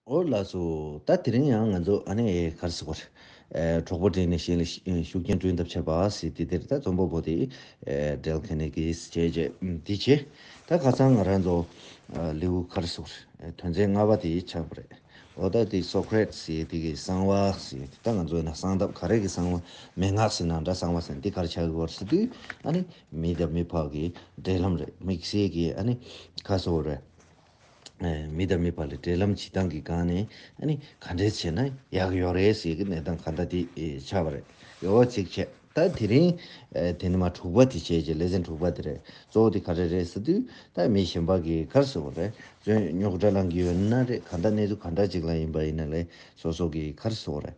ཨོ་ལགས་སུ་ད་དེ་རིང་ཡང་ང་ཚོ་ཨ་ནེ་ཨའི་གར་སོ་པར། གྲོགས་པོ་འབྲེལ་ནས་གཞན་ལ་ཤུགས་རྐྱེན་སྐྲུན་ཐབས་བྱས་པ་སྲིད་དེ་དེར་ད་རྩོམ་པ་པོ་དེ་འབྲེལ་ཁེ་ནེ་ཀིས་བྱས་རྗེས་འདི་བྱས། ད་ཁ་སང་ང་རང་ཚོ་ལེའུ་གར་སོ་པར་དོན་ཚན་ལྔ་པ་དེ་ཆགས་པ་རེད། ཨོ་ད་དེ་སོ་ཁེ་རེད་སྲིད་དེ་གི་གསང་བ་སྲིད་ད་ང་ཚོའི་ན་གསང་སྟབས་ག་རེ་གི་གསང་བ་མན་ངག་སྲིད་ན་འདྲ་གསང་བ་སྲིད་དེ་གར་ཆགས་གི་བར་སྲིད་དུས་ཨ་ནེ་མི་དང་མི་ཕག་གི་འབྲེལ་ལམ་རེད་དམིགས་བསལ་གི་ཨ་ནེ་གར་སོ་པར། མི་དང་མི་བར་ལ་འབྲེལ་ལམ་བྱེད་སྟངས་ཀྱི་སྒང་ནས་ག་འདྲས་བྱས་ན་ཡག་ཡོད་རེད་ཟེར་གྱི་གནས་སྟངས་ག་འདྲ་དེ་ཆགས་པ་རེད་ཡོད་ཚིག་བཅད་ད་དེ་རིང་དེ་ནི་མ་དྲུག་པ་དེ་བྱས་རྗེས་ལེ་ཚན་དྲུག་པ་དེ་རེད་གཙོ་བོ་དེ་ག་འདྲ་རེད་ཟེར་དུས་ད་མི་གཞན་པ་གིས་གར་ཟེར་བ་རེད་བརྩོན་རྙོག་འདྲ་ལངས་ཀྱི་ཡོད་ན་རེད་ག་འདྲ་གནས་ཚུལ་ག་འདྲ་ཅིག་ལ་ཡིན་པ་ཡིན་ན་ལེ་སོ་སོ་གིས་གར་ཟེར་བ་རེད།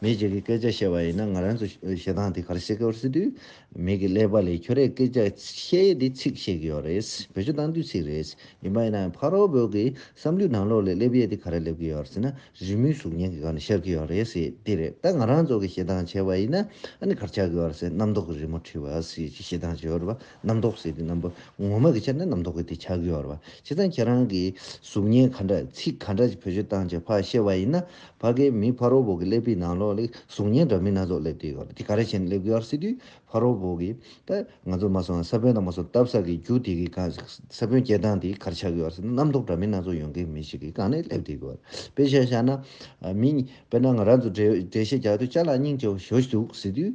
མེད་ཅིག་གི་སྐད་ཆ་བཤད་པ་ཡིན་ན་ང་རང་ཚོ་ཞེ་སྡང་དེ་གར་སེ་གར་སེ་དུས་མེད་ཀི་ཀླད་པ་ལས་ཁྱོད་རས་སྐད་ཆ་བཤད་ཡས་དེ་ཚིག་བཤད་གི་ཡོད་རེད་བོད་ཆོས་གཏང་དུས་ཚིག་རེད་ཡིན་པ་ཡིན་ན་ཕ་རོལ་བོ་གི་བསམ་ལུས་ནང་ལོག་ལས་སླེབ་ཡས་དེ་ག་ར་སླེབ་གི་ཡོད་ཟེར་ན་རི་མོའི་གཟུགས་བརྙན་གི་ག་ནས་ཤར་གི་ཡོད་རེད་དེ་རེད་ད་ང་རང་ཚོ་གི་ཞེ་སྡང་བྱས་པ་ཡིན་ན་ཨ་ནི་གར་ཆག་གི་ཡོད་རེད་རྣམ་རྟོག་གི་རི་མོ་བྲིས་པ་ཞེ་སྡང་བྱས་ཡོད་རེད་བ། རྣམ་རྟོག་ཟེར་དུས་རྣམ་པ་ངོ་མ་གི་ཆ་ནས་རྣམ་རྟོག་གི་དེ་ཆ་གི་ཡོར་བ་ཅི་ཙང་ཁྱེད་རང་གི་གཟུགས་བརྙན་ག་འདྲ་ཚིག་ག་འདྲ་ཅིག་བོད་ཆོས་བཏང་ཆེ་ཕ་བཤད་བ་ཡིན་ན་ཕ་གའི་མི་ཕ་རོ་བོ་གི་སླེབས་པའི་ནང་ལོག་ལེ་གཟུགས་བརྙན་འདྲ་མིན་སྣ་ཚོགས་སླེབས་དེ་ཡོར་དེ་ག་རེ་བྱེད་ནས་སླེབས་གི་ཡོར་ཟེར་དུས་ཕ་རོ་བོ་གི་ད་ང་ཚོ་མ་སོང་ས་བོན་དང་མ་སོང་བཏབ་ས་གི་རྒྱུ་དེ་གི་གང་ས་བོན་སྐྱེ་སྟངས་དེ་ག་རེ་ཆ་གི་ཡོར་ཟེར་ན་རྣམ་རྟོག་འདྲ་མིན་སྣ་ཚོགས་ཡོང་གི་མི་ཞིག་གི་གང་ནས་སླེབས་དེ་གི་ཡོར་དཔེ་ཤ་བཞག་ན་མི་དཔེར་ན་ང་རང་ཚོ་འགྲེལ་བཤད་རྒྱག་དུས་ལྕགས་ལ་སྙིང་རྗེ་བོ་ཞོ་ཞུགས་ཟེར་དུས།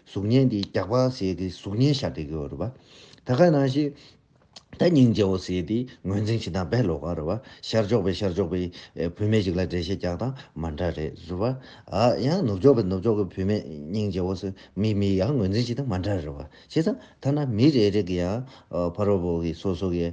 གཟུགས་བརྙན་དེ་རྒྱགས་པ་ཟས་དེ་གཟུགས་བརྙན་ཤར་དེ་གོ་རུ་བ། ད་ག་ནང་ཞིག། ད་སྙིང་རྗེ་བོ་ཟས་དེ་ངོས་འཛིན་བྱེད་སྟངས་བས་ལོ་ག་རུ་བ། ཤར་ཕྱོགས་པས་ཤར་ཕྱོགས་པའི་བུད་མེད་ཞིག་ལ་འགྲེལ་བཤད་རྒྱག་སྟངས་མ་འདྲ་རེད་རུ་བ། ཡང་ནུབ་ཕྱོགས་པས་ནུབ་ཕྱོགས་ཀྱི་བུད་མེད་སྙིང་རྗེ་བོ་ཟས་མི་མི་ཡང་ངོས་འཛིན་བྱེད་སྟངས་མ་འདྲ་རུ་བ། བྱས་ཙང་ཐ་ན་མི་རེ་རེ་གི་ཡང་ཕ་རོལ་པོ་གི་སོ་སོ་གི།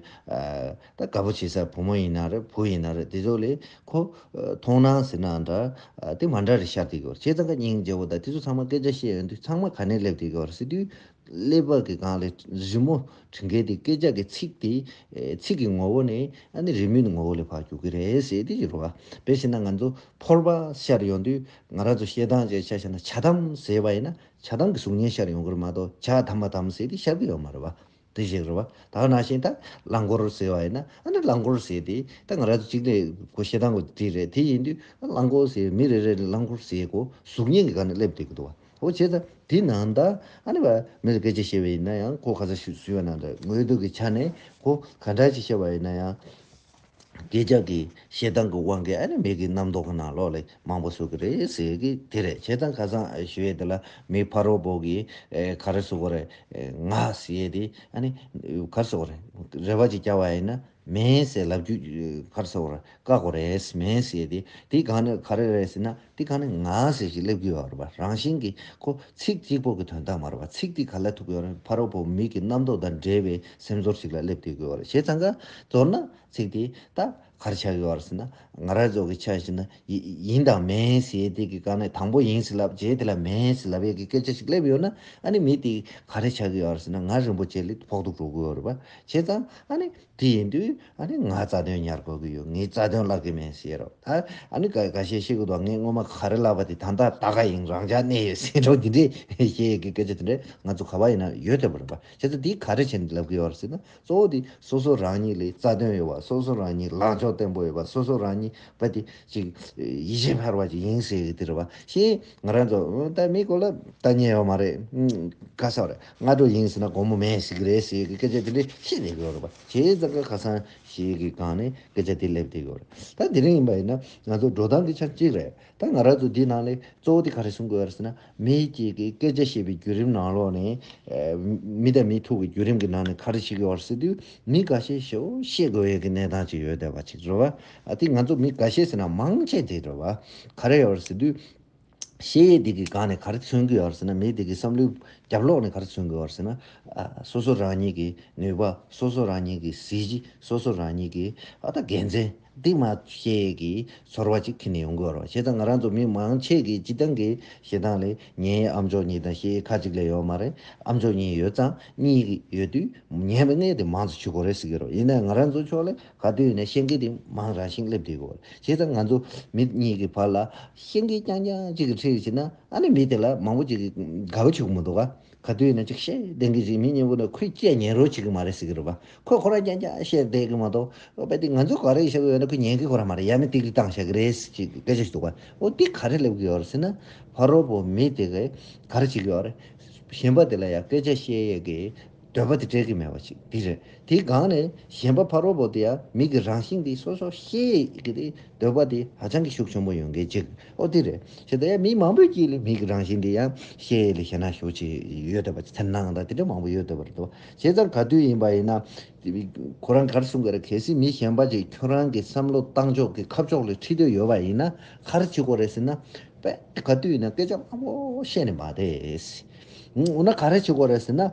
ད་དཀའ་པོ་བྱེད་ས་བུ་མོ་ཡིན་ན་རེད་བུ་ཡིན་ན་རེད་དེ་ཚོ་ལས་ཁོ། མཐོང་སྣང་ཟེར་ནའང་འདྲ། དེ་མ་འདྲ་རེད་ཤར་དེ་གི་བར་ཁྱེད་ཚང་ག་སྙིང་རྗེ་བོ་དང་དེ་ཚོ་ཚང་མ་སྐད་ཆ་བཤད་ཡོང་དུས་ཚང་མ་ག་ནས་སླེབས་དེ་གི་བར་སྲིད་དུས། ཀླད་པ་གི་སྒང་ལས་རི་མོ་བྲི་མཁན་དེ་སྐད་ཆ་གི་ཚིག་དེ། ཚིག་གི་ངོ་བོ་ནས་ཨ་ནི་རི་མོའི་ངོ་བོ་ལས་བར་གྱུར་གི་རེད་ཟེར་དེ་གི་བར། དེ་བྱས་ན་ང་ཚོ་ཕོར་པ་ཤར་ཡོང་དུས་ང་རང་ཚོ་བཤད་སྟངས་ཅིག་ཆ་ཤར་ན་བྱ་དམ་ཟེར་བ་ཡིན་ན་བྱ་དམ་གི་གཟུགས་བརྙན་ཤར་ཡོང་གི་རེད་མ་གཏོགས་བྱ་དམ་མ་དམ་ཟེར་དེ་ཤར་གི་ཡོད་མ་རེད་བ། དེ་བཞིན་རེད་བ། ད་ག་ན་བཞིན་ད་རླངས་འཁོར་ཟེར་བ་ཡིན་ན་ཨ་ནི་རླངས་འཁོར་ཟེར་དེ་ད་ང་ར་གཅིག་ལས་གོ་ཤེས་སྟངས་གོ་དེ་རེད་དེ་ཡིན་དུས་ཨ་རླངས་འཁོར་ཟེར་མི་རེ་རེ་ལ་རླངས་འཁོར་ཟེར་གོ་གཟུགས་བརྙན་གི་ག་ནས་སླེབས་དེ་གི་འདུག་བ་ཨོ་བྱས་ད་དེ་ན་ད་ཨ་ནི་བ་མི་ལ་སྐད་ཆ་བཤད་བའི་ཡིན་ན་ཡང་གོ་ག་ཚ་ཞུས་བ་ན་ད་ངོས་ཐུག་གི་ཆ་ནས་གོ་ག་འདྲ་ཅིག་བཤད་བ་ཡིན་ན་ཡང། ཁྱེད་ཅག་གིས་ཞེ་སྡང་གི་དབང་གིས་ཨ་ནི་མིག་གི་རྣམ་རྟོག་གི་ནང་ལོགས་ལས་མང་པོ་ཟུག་གི་རེད་ཟེར་གི་དེ་རེད་ཁྱེད་ཚང་ཁ་སང་ཞུ་ཡས་དེ་ལ་མི་ཕ་རོ་བོ་གིས་ག་རེ་ཟུག་གོ་རེད་ང་ཞེས་དེ་ཨ་ནི་ག་རེ་ཟུག་གོ་རེད་རེ་བ་ཅིག་བསྐྱལ་བ་ཡིན་ན་མེད་ཟེར་ལབ་རྒྱུ་ག་རེ་ཟུག་གོ་རེད་བཀག་གོ་རེད་མེད་ཟེར་དེ་དེ་ག་རེ་རེད་ཟེར་ན། འདི་ག་ནི་ང་ཟེར་ཞིག་སླེབས་གི་ཡོད་རེད་པ་རང་བཞིན་གྱི་ཁོ་ཚིག་གཅིག་པོ་གི་དོན་དག་མ་རེད་པ་ཚིག་འདི་ག་ལས་ཐུབ་ཀྱི་ཡོད་རེད་ཕ་རོལ་པོ་མིག་གི་རྣམ་རྟོག་དང་འདྲེས་པའི་སེམས་ཚོར་ཞིག་ལ་སླེབས་བསྡད་ཀྱི་ཡོད་རེད་བྱས་ཙང་ཀ་མདོར་ན་ཚིག་འདི་ད་གར་ཆགས་ཡོད་ཟེར་ན་ང་རང་རྫོགས་ཀྱི་ཆ་ཞིག་ན་ཡིན་དང་མིན་ཟེར་བསྡད་ཀྱི་ཀ་ནས་དང་པོ་ཡིན་ཟེར་ལབ་རྗེས་དེ་ལ་མིན་ཟེར་ལབ་ཡས་ཀྱི་སྐད་ཆ་ཞིག་སླེབས་ཡོད་ན་ཨ་ནི་མི་འདི་ག་རེ་ཆགས་ཀྱི་ཡོད་ཟེར་ན་ང་རིན་པོ་ཆེ་ལས་ཕོག་ཐུག་འགྲོ་གི་ཡོད་རེད་པ་བྱས་ཙང་ཨ་ནི། དེ་ཡིན་དུས་ཨ་ནི་ང་རྩ་དོན་ཉར་དགོས་ཀྱི་ཡོད་ངས་རྩ་དོན་བརླག་གི་མིན་ཟེར་རོ། ད་ཨ་ནི་ག་གཞས་ཤེས་གི་འདུག་ངས་སྔོན་མ་ག་རེ་བརླག་པ་དེ་ད་ལྟ་ད་ག་ཡིན་རང་འཇགས་གནས་ཡོད་ཟེར་རོ་དེ་འདྲའི་གཞས་ཡོད་ཀི་སྐད་ཆ་དེ་འདྲ་ང་ཚོ་ག་བ་ཡིན་ན་ཡོད་ཐལ་བ་རེད་པ་ཁྱེད་ཚོ་དེ་ག་རེ་བྱེད་འདི་ལབ་གི་ཡོད་ཟེར་ན་གཙོ་བོ་དེ་སོ་སོ་རང་ཉིད་ལས་རྩ་དོན་ཡོད་པ་སོ་སོ་རང་ཉིད་ལངས་ཕྱོགས་བརྟན་པོ་ཡོད་པ་སོ་སོ་རང་ཉིད་བ་དེ་ཅིག་ཡིད་ཆེས་འཕར་བ་ཅིག་ཡིན་ཟེར་གི་དེ་རེད་པ་ཤེས་ཡིན་ང་རང་ཚོ་ད་མི་གོ་ལ་ད་ཉན་ཡོད་མ་རེད་ག་ས་རེད། སྔ་དྲོ་ཡིན་ཟེར་ན་དགོང་མོ་མེད་ཟེར་གྱི་རེད་ཟེར་གྱི་སྐད་ཆ་དེ་འདྲས་བཤད་བསྡད་ཀྱི་ཡོད་རེད་པ། བྱས་ཙང་སྐར་ཁ་སང་ཞིག་གི་སྒང་ནས་སྐད་ཆ་དེ་སླེབས་བསྡད་ཀྱི་ཡོད་རེད། ད་དེ་རིང་ཡིན་པ་ཡིན་ན་ང་ཚོ་འགྲོ་སྟངས་ཀྱི་ཆ་གཅིག་རེད། ད་ང་རང་ཚོ་འདི་ནང་ལས་གཙོ་བོ་དེ་ག་རེ་གསུང་དགོས་ཡོད་ཟེར་ན། མི་གཅིག་གིས་སྐད་ཆ་བཤད་པའི་བརྒྱུད་རིམ་ནང་ལོགས་ནས། མི་དང་མི་ཐུག་པའི་བརྒྱུད་རིམ་གྱི་ནང་ནས་ག་རེ་བྱེད་ཀྱི་ཡོད་ཟེར་དུས་མི་ག་ཤེད་ཤོག་བཤད་དགོས་ཡོད་ཀྱི་གནས་སྟངས་ཅིག་ཡོད་བསྡད་པ་ཅིག་རེད་བ། དེ་ང་ཚོ་མི་ག་ཤེད་ཟེར་ན་མང་ཆེ་དེ་རེད་བ། ག་རེ་ཡོད་ཟེར་དུས། གཞལ་ཡས་སྡིག་གི་སྒང་ནས་ག་རེ་མཚོན་གྱི་ཡོད་ཟེར་ན་མིའི་སྡིག་གི་བསམ་བློའི་རྒྱབ་ལོགས་ནས་ག་རེ་མཚོན་གྱི་ཡོད་ཟེར་ན། སོ་སོ་རང་ཉིད་ཀྱི་ནུས་པ། སོ་སོ་རང་ཉིད་ཀྱི་གཟི་བརྗིད། སོ་སོ་རང་ཉིད་ཀྱི་ཨ་ད་དགེ་མཚན། འདི་མ་གཞལ་ཡས་ཀྱི་ཚོར་བ་ཅིག་ཁྱེར་ནས་ཡོང་གི་ཡོད་རེད། བྱས་ཙང་ང་རང་ཚོ་མི་མང་ཆེས་ཀྱི་སྤྱི་བཏང་གི་ཞེ་སྡང་ལས་ཉན་ཡས་ཨ་མཆོག་གཉིས་དང་གཞལ་ཡས་ཁ་ཅིག་ལས་ཡོད་མ་རེད། ཨ་མཆོག་གཉིས་ཡོད་ཙང་གཉིས་ཡོད་དུས་ཉན་པའི་གནས་དེ་མང་ཙོ་ཆུད་གོ་རེ་ཟེར་གྱི་རེད། ཡིན་ནའང་ང་རང་ཚོ་ཕྱོགས་ལས། ག་དུས་ཡིན་ན་ཤེས་འགལ་དེ་མང་རང་བཞིན་སླེབས་དུས་གོ། བྱས་ཙང་ང་ཚོ་མི་གཉིས་ཀྱི་བར་ལ་ཤེས་འགལ་རྐྱང་རྐྱང་གཅིག་གི་འཁྲིས་ཟིན་ན་ཨ་ནི་མི་དེ་ལ་མང་པོ་གཅིག་དགའ་བོ་བྱེད་དགོས་མི་འདུག་ག། ག་དུས་ཡིན་ན་ཅིག་ཤེས་འདེང་གི་ཟིན་མི་གཉིས་པོ་ནི་ཁོས་བཅད་ཉན་རོགས་བྱེད་ཀྱི་མ་རེད་ཟེར་གྱི་རེད་པ། ཁོས་ཁོ་རང་རྐྱང་རྐྱང་བཤད་བསྡད་ཀྱི་མ་གཏོགས་པ་དེ་ང་ཚོས་ག་རེ་བྱ་གི་ཡོད་ན་ཁོས་ཉན་གི་ཁོ་རང་མ་རེད་ཡ་མི་ཏིག་ཏིག་བཏང་བཞག་གི་རེད་ཟེར་གྱི་སྐད་ཆ་ཞིག་འདུག་ག། འོ་དེ་ག་རེ་སླེབས་ཀྱི་ཡོད་རེད་ཟེར་ན། ཕ་རོལ་པོ་མི་དེ་གས་ག་རེ་བྱེད་ཀྱི་ཡོད་རེད། གཞན་པ་དེ་ལ་ཡང་སྐད་ཆ་བཤད་ཡས་ཀྱི། འདོད་པ་དེ་བྲལ་གྱི་མེད་པ་ཞིག་འདི་རེད། དེའི་སྒང་ནས་གཞན་པ་ཕ་རོལ་པོ་དེ་ཡང་མིག་གི་རང་བཞིན་འདི་སོ་སོ་ཤེས་ཀྱི་དེ་འདོད་པ་དེ་ཧ་ཅང་གི་ཤུགས་ཆེན་པོ་ཡོད་མཁན་གཅིག་ཨོ་དེ་རེད། ཞེས་དང་ཡང་མི་མང་པོས་ཀྱིས་ལས་མིག་གི་རང་བཞིན་འདི་ཡང་ཤེས་ལས་ཤེས་ན་ཤུགས་ཆེ་ཡོད་འདོད་པ་ཅིག་ཚེར་སྣང་དང་དེ་འདྲ་མང་པོ་ཡོད་འདོད་པ་རེད་དོ། བྱས་ཙང་ག་དུས་ཡིན་པ་ཡིན་ན། ཁོ་རང་གར་གསུང་གི་རེད་གལ་སྲིད་མི་གཞན་པ་ཅིག་ཁྱོད་རང་གི་བསམ་བློ་བཏང་ཕྱོགས་ཀྱི་ཁ་ཕྱོགས་ལས་ཁྲིད་འདོད་ཡོད་པ་ཡིན་ན་གར་བྱེད་དགོས་རེད་ཟེར་ན། དཔེ་ག་དུས་ཡིན་ན་སྐད་ཆ་དམའ་པོ་བཤད་ནི་མ་བསྡད། འོ་ན་ག་རེ་བྱེད་དགོས་རེད་ཟེར་ན།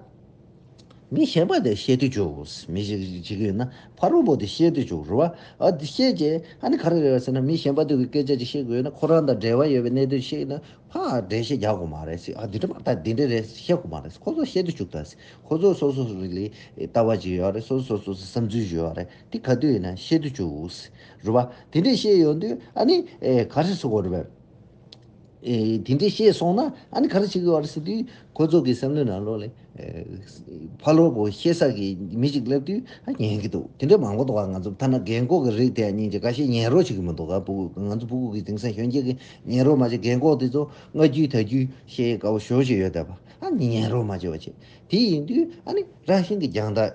མི་གཞན་པ་དེ་ཤེས་དུས་འཇུག་མི་ཞིག་བྱེད་ཀྱི་ཡོད་ན་ཕ་རོལ་པོ་དེ་ཤེས་དུས་འཇུག་རུང་བ་ཨ་དེ་ཤེས་ཀྱི་ཨ་ནི་ག་རེ་རེད་ཟེར་ན་མི་གཞན་པ་དེ་སྐད་ཆ་ཅིག་ཤེས་དགོས་ཡོད་ན་ཁོ་རང་དང་འབྲེལ་བ་ཡོད་པའི་གནད་དོན་ཤེས་ན་ཕ་འགྲེལ་བཤད་རྒྱག་དགོས་མ་རེད་ཨ་འདི་འདྲ་མ་ད་འདི་འདྲ་རེད་ཤེས་དགོས་མ་རེད་ཁོ་ཚོ་ཤེས་དུས་འཇུག་ད་ཁོ་ཚོ་སོ་སོ་ལ་ལྟ་བ་ཅིག་ཡོད་རེད་སོ་སོ་སོ་སོའི་བསམ་ཚུལ་ཞིག་ཡོད་རེད་དེ་ག་དུས་ཡིན་ན་ཤེས་དུས་འཇུག་རུང་བ་དེ་འདྲ་ཤེས་ཡོང་དུས་ཨ་ནི་ག་རེ་བྱེད་དགོས་རེད། དེ་འདྲས་ཤེས་སོང་ན་ཨ་ནི་ག་རེ་བྱེད་དགོས་བ་རེད་ཟེར་དུས། ཁོ་ཚོ་གི་བསམ་བློའི་ནང་ལོགས་ལས། ཕ་ལོག་པོ་ཤེས་ས་ཀྱི་མི་ཞིག་སླེབས་དུས་ཨ་ཉན་གྱི་འདུག་དེ་འདྲས་མང་པོ་འདུག་ཨ་ང་ཚོ་ཐ་ན་རྒན་འཁོགས་ཀྱི་རིགས་དེ་ཨ་ཉིན་གྱི་དགའ་ཤས་ཉན་རོགས་བྱེད་ཀྱི་མི་འདུག་ག་པུ་གུ་ང་ཚོ་པུ་གུ་གི་དེང་སང་གཞོན་སྐྱེས་ཀྱི་ཉན་རོགས་མ་བྱེད་རྒན་འཁོགས་དེ་ཚོ་སྔ་རྒྱུའི་ད་རྒྱུའི་ཤེས་དགའ་བོ་ཞོར་ཞིག་ཡོད་བསྡད་པ་ཨ་ཉིན་ཉན་རོགས་མ་བྱེད་བ་བྱེད་དེ་ཡིན་དུས་ཨ་ནི་རང་བཞིན་གྱི་རྒྱང་ཐག་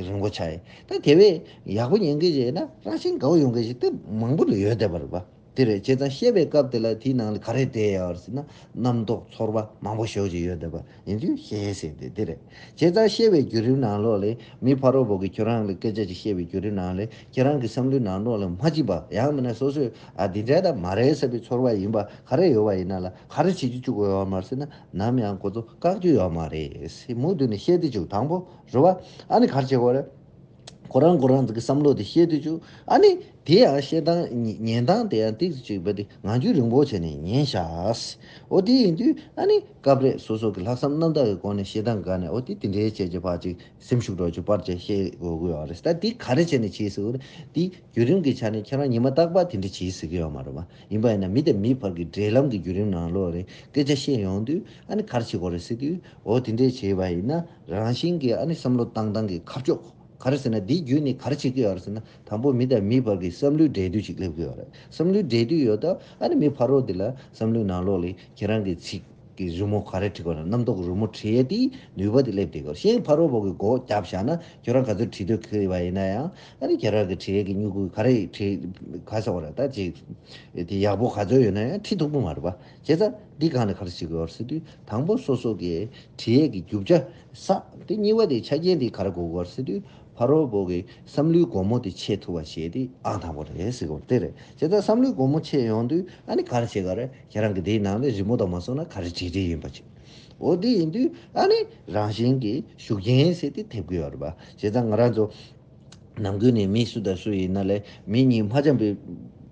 རིང་བོ་ཆགས་ཡས་ད་དེ་བས་ཡག་པོ་ཉན་གྱི་བྱས་ན་རང་བཞིན་དགའ་བོ་ཡོང་གྱི་ཞིག་ཏུ་མང་པོ་ལས་ཡོད་བསྡད་པ་རེད་པ། དེ་རེད་བྱས་ཙང་བཤད་པའི་སྐབས་དེ་ལ་དེའི་ནང་ལ་ག་རེ་བསྡད་ཡོད་ཟེར་ན་རྣམ་རྟོག་ཚོར་བ་མང་པོ་ཞོགས་ཀྱི་ཡོད་བསྡད་པ་ཡིན་དུས་བཤད་ཡས་ཟེར་དེ་དེ་རེད་བྱས་ཙང་བཤད་པའི་བརྒྱུད་རིམ་ནང་ལོགས་ལས་མི་ཕ་རོ་བོ་གི་ཁྱོད་རང་ལ་སྐད་ཆ་ཅིག་བཤད་པའི་བརྒྱུད་རིམ་ནང་ལས་ཁྱེད་རང་གི་བསམ་བློའི་ནང་ལོགས་ལ་མ་ཅིག་པ་ཡང་མིན་ན་སོ་སོས་ཨ་དེ་འདྲས་དང་མ་རེད་ཟེར་པའི་ཚོར་བ་ཡིན་པ་ག་རེ་ཡོད་བ་ཡིན་ན་ལ་ག་རེ་བྱེད་ཀྱི་བཅུག་གོ་ཡོད་མར་ཟེར་ན་ནམ་ཡང་གོ་ཚོ་བཀག་རྒྱུ་ཡོད་མ་རེད་ཟེར་མུ་མཐུད་ནས་བཤད་དེ་བཅུག་དང་པོ་རུ་བ་ཨ་ནི་གར་བྱེད་གོ་རེད། ཁོ་རང་ཁོ་རང་གི་བསམ་བློ་དེ་བཤད་དུས་བཅུག་ཨ་ནི། དེ་ཡང་བཤད་སྟངས་ཉན་སྟངས་དེ་ཡང་ཏིག་ཅིག་བལྟས་ཏེ་ངང་ཚུལ་རིང་བོ་བྱས་ནས་ཉན་ཤག། འོ་དེ་ཡིན་དུས་ཨ་ནི། སྐབས་རེ་སོ་སོ་གི་ལྷག་བསམ་རྣམ་དག་གི་སྒོ་ནས་བཤད་སྟངས་དགའ་ནས་འོ་དེ་དེ་འདྲའི་བྱས་རྗེས་བག་ཅིག་སེམས་ཤུགས་སྒྲོག་ཅིག་པར་བཅས་བཤད་དགོས་དགོས་ཡོད་རེད་ད་དེ་ག་རེ་བྱས་ནས་བྱས་ཟིག་འོ་རེད་དེ་བརྒྱུད་རིམ་གི་ཆ་ནས་ཁྱེད་རང་ཉི་མ་རྟག་པར་དེ་འདྲ་བྱས་ཟིག་གི་ཡོད་མ་རེད་བ། ཡིན་པ་ཡིན་ན་མི་དང་མི་བར་གི་འབྲེལ་ལམ་གི་བརྒྱུད་རིམ་ནང་ལོགས་རེ་སྐད་ཆ་བཤད་ཡོང་དུས་ཨ་ནི་ག་རེ་བྱེད་དགོས་རེད་ཟེར་དུས་འོ་དེ་འདྲའི་བྱས་པ་ཡིན་ན་རང་བཞིན་གྱིས་ཨ་ནི་བསམ་བློ་བཏང་སྟངས་ཀྱི་ཁ་ཕྱོགས་ག་རེ་ཟེར་ན་དེའི་རྒྱུད་ནས་ག་རེ་བྱེད་ཀྱི་ཡོད་རེད་ཟེར་ན་དང་པོ་མི་དང་མིའི་བར་གྱི་བསམ་བློའི་འབྲེལ་མཐུད་ཅིག་སླེབས་ཀྱི་ཡོད་རེད་བསམ་བློའི་འབྲེལ་མཐུད་ཡོད་སྟབས་ཨ་ནི་མི་ཕ་རོལ་དེ་ལ་བསམ་བློའི་ནང་ལོགས་ལས་ཁྱེད་རང་གི་ཚིག་གི་རི་མོ་ག་རེ་བྲིས་པ་ན་རྣམ་རྟོག་རི་མོ་བྲིས་ཡས་དེའི་ནུས་པ་དེ་སླེབས་ཏེ་གོ་ཤེས་ཕ་རོལ་བོ་གི་སྒོ་བརྒྱབ་བཞག་ན་ཁྱོད་རང་ག་ཚོད་བྲིས་འདོད་ཀྱི་བ་ཡིན་ན་ཡང་ཨ་ནི་ཁྱེད་རང་གི་བྲིས་ཡས་ཀྱི་སྨྱུ་གུ་ག་རེ་བྲིས་ག་ས་བ་རེད་ད་ཅིག་དེ་ཡག་པོ་ག་ཚོད་ཡོད་ན་ཡང་བྲིས་ཐུབ་ཀྱི་མ་རེད་བ། བྱས་ཙང་འདི་གང་ལ་ག་རེ་བྱེད་དགོས་བར་སོད་དུས་དང་པོ་སོ་སོ་གི་དྲི་ཡས་ཀྱི་རྒྱུ་བྱ་ས་དེ་གཉིས་བ་དེ་ཆ་རྐྱེན་དེ་ག་རེ་དགོས་བར་སོད་དུས་ཕ་རོལ་པོ་གི་བསམ་བློའི་སྒོ་མོ་དེ་ཕྱེ་ཐུབ་བ་བྱས་དེ་ཨང་དང་པོ་རེད་ཟེར་དགོས་དེ་རེད་བྱས་ཙང་བསམ་བློའི་སྒོ་མོ་ཕྱེ་ཡོང་དུས་ཨ་ནི་ག་རེ་བྱེད་ག་རེ་ཁྱེད་རང་གི་དེའི་ནང་ནས་རི་མོ་དང་མ་སོང་ན་ག་རེ་བྲིས་བྲིས་ཡིན་པ་བྱེད་འོ་དེ་ཡིན་དུས་ཨ་ནི་རང་བཞིན་གྱི་ཤུགས་རྐྱེན་ཟེར་དེ་ཐེབས་དགོས་བར་བྱས་ཙང་ང་རང་ཚོ། ནམ་ཀུན་ནས་མི་སུ་དང་སུ་ཡིན་ན་ལས་མི་གཉིས་མ་འཇམ་པའི་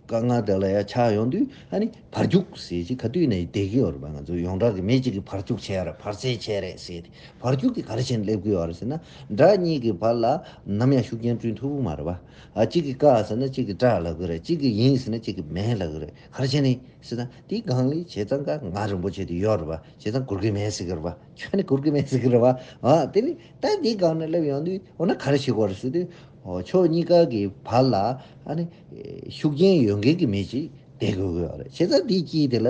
དཀའ་ངལ་དག་ལ་ཡང་ཆགས་ཡོང་དུས་ཨ་ནི་བར་བཅུག་ཟེར་གྱིས་ག་དུས་ནས་བསྡད་ཀྱི་ཡོད་རེད་པ་ང་ཚོ་ཡོངས་གྲགས་ཀྱི་མི་གཅིག་གིས་བར་བཅུག་བྱས་རེད་བར་བཙས་བྱས་རེད་ཟེར་ཏེ་བར་བཅུག་གིས་ག་རེ་བྱེད་ནས་སླེབས་ཀྱི་ཡོད་རེད་ཟེར་ན་དགྲ་གཉིས་ཀྱི་བར་ལ་ནམ་ཡང་ཤུགས་རྐྱེན་བསྐྲུན་ཐུབ་མ་རེད་པ། གཅིག་གིས་བཀག་ཟེར་ན་གཅིག་གིས་སྐྲག་ལབ་ཀྱི་རེད་གཅིག་གིས་ཡིན་ཟེར་ན་གཅིག་གིས་མེད་ལབ་ཀྱི་རེད་ག་རེ་བྱེད་ནས་ཟེར་ན་དེའི་སྒང་ལས་བྱས་ཙང་དཀའ་ངལ་རིན་པོ་ཆེ་དེ་ཡོད་རེད་པ་བྱས་ཙང་གུར་གི་མེད་ཟེར་གྱི་རེད་པ་ཁྱོད་ནི་གུར་གི་མེད་ཟེར་གྱི་རེད་པ། དེ་ནི་ལྟས་འདིའི་སྒང་ནས་སླེབས་ཡོང་དུས་འོ་ན་ག་རེ་བྱེད་དགོས་རེད་ཟེར་དུས། ཕྱོགས་གཉིས་ཀ་གི་བར་ལ་ཤུགས་རྐྱེན་ཡོད་མཁན་གྱི་མི་ཞིག་བསྡད་དགོས་གི་ཡོད་རེད་བྱས་ཙང་དེའི་དཀྱིལ་དེ་ལ་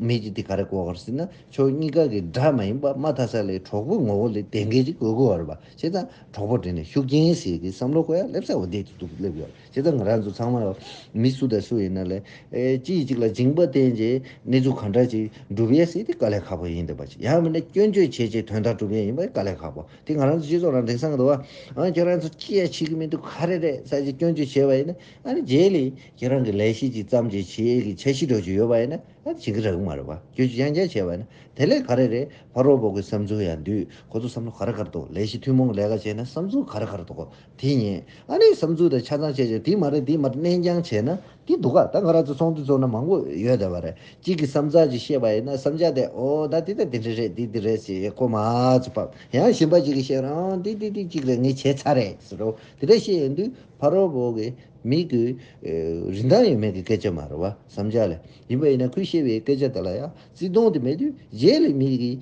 མི་ཞིག་དེ་ག་རེ་དགོས་གི་རེད་ཟེར་ན་ཕྱོགས་གཉིས་ཀ་གི་དགྲ་མ་ཡིན་པ་དམའ་ཐ་ས་ལའི་གྲོགས་པོའི་ངོ་བོ་ལས་བསྡད་མཁན་ཞིག་དགོས་གི་ཡོད་རེད་བྱས་ཙང་གྲོགས་པོ་དེ་ནི་ཤུགས་རྐྱེན་ཟེར་གི་བསམ་བློ་གོ་ཡར་སླེབས་ས་འོག་བསྡད་དུ་འདུག་སླེབས་ཡོད་རེད། ཇི་ལྟར་ང་རང་ཚོ་ཚང་མ་མི་སུ་དང་སུ་ཡིན་ན་ལས་གཅིག་གཅིག་ལ་སྦྱིན་པ་བསྟན་རྗེས་གནས་ཚུལ་གང་འདྲ་ཅིག་འགྲུབ་ཡས་སྲིད་དེ་དཀའ་ལས་ཁག་པོ་ཡིན་འདོད་པ་ཅིག་ཡང་མིན་ན་སྐྱོན་བརྗོད་བྱས་རྗེས་དོན་དག་འགྲུབ་ཡས་ཡིན་པ་དཀའ་ལས་ཁག་པོ་དེ་ང་རང་ཚོ་སྤྱི་ཚོགས་ནང་དེང་སང་དུ་ཨང་ཁྱོད་རང་ཚོ་ཅི་ཡང་བྱེད་ཀྱི་མི་འདུག་ག་རེ་རེད་ས་ཅིག་སྐྱོན་བརྗོད་བྱས་པ་ཡིན་ན་ཨ་ནི་རྗེས་ལས་ཁྱེད་རང་གི་ལས་ཤེས་ཅིག་བརྩམས་རྗེས་བྱེད་ཡས་ཀྱི་འཆར་གཞི་འགྲོ་རྒྱུ་ཡོད་པ་ཡིན་ན་ཨ་བྱེད་ཀྱི་རག་གི་མ་རེད་པ་སྐྱོན་བརྗོད་ཡང་བསྐྱར་བྱས་པ་ཡིན་ན་དེ་ལས་ག་རེ་རེད་ཕ་རོལ་པོ་གི་བསམ་ཚུལ་ཡང་འདུས་ཁོ་ཚོ་བསམ་བློ་ག་རེ་གར་འདུག་ལས་གཞི་ཐུན་མོང་ལས་ཀ་བྱས་ན་བསམ་ཚུལ་ག་རེ་གར་འདུག་དེ་ཉིད་ཨ་ནེ་བསམ་ཚུལ་དང་ཆ་ཚང་བཤད་རྗེས་དེ་མ་རེད་འདི་མ་རེད་ནན་ཅང་བྱས་ན་འདི་འདུག་ག་ད་ང་རང་ཚོ་ཚོང་འདུ་ཚོགས་ན་མང་པོ་ཡོད་དེ་བ་རེད་གཅིག་གི་བསམ་ཚགས་ཀྱིས་བཤད་པ་ཡིན་ན་བསམ་འཆར་དེ་ཨོ་ད་འདི་དང་འདི་འདྲ་རེད་འདི་འདི་རེད་ཟེར་ཡས་སྐོར་མ་ཚོ་བབས་ཡང་ཞིམ་པ་ཅིག་གིས་བཤད་རོགས་འདི་འདི་འདི་གཅིག་རེད་ངས་བྱས་ཚར་རེད་ཟེར་རོ་དེ་འདྲ་བཤད་ཡོང་དུས་ཕ་རོལ་བོ་གི་མིག་གི་རིན་ཐང་ཡོད་མེད་ཀྱི་སྐད་ཆ་མ་རེད་བ་བསམ་འཆར་ལས་ཡིན་པ་ཡིན་ན་ཁོས་བཤད་པའི་སྐད་ཆ་དེ་ལ་ཡང་བརྩི་མཐོང་དེ་མེད་དུས་རྗེས་ལས་མི་གིས་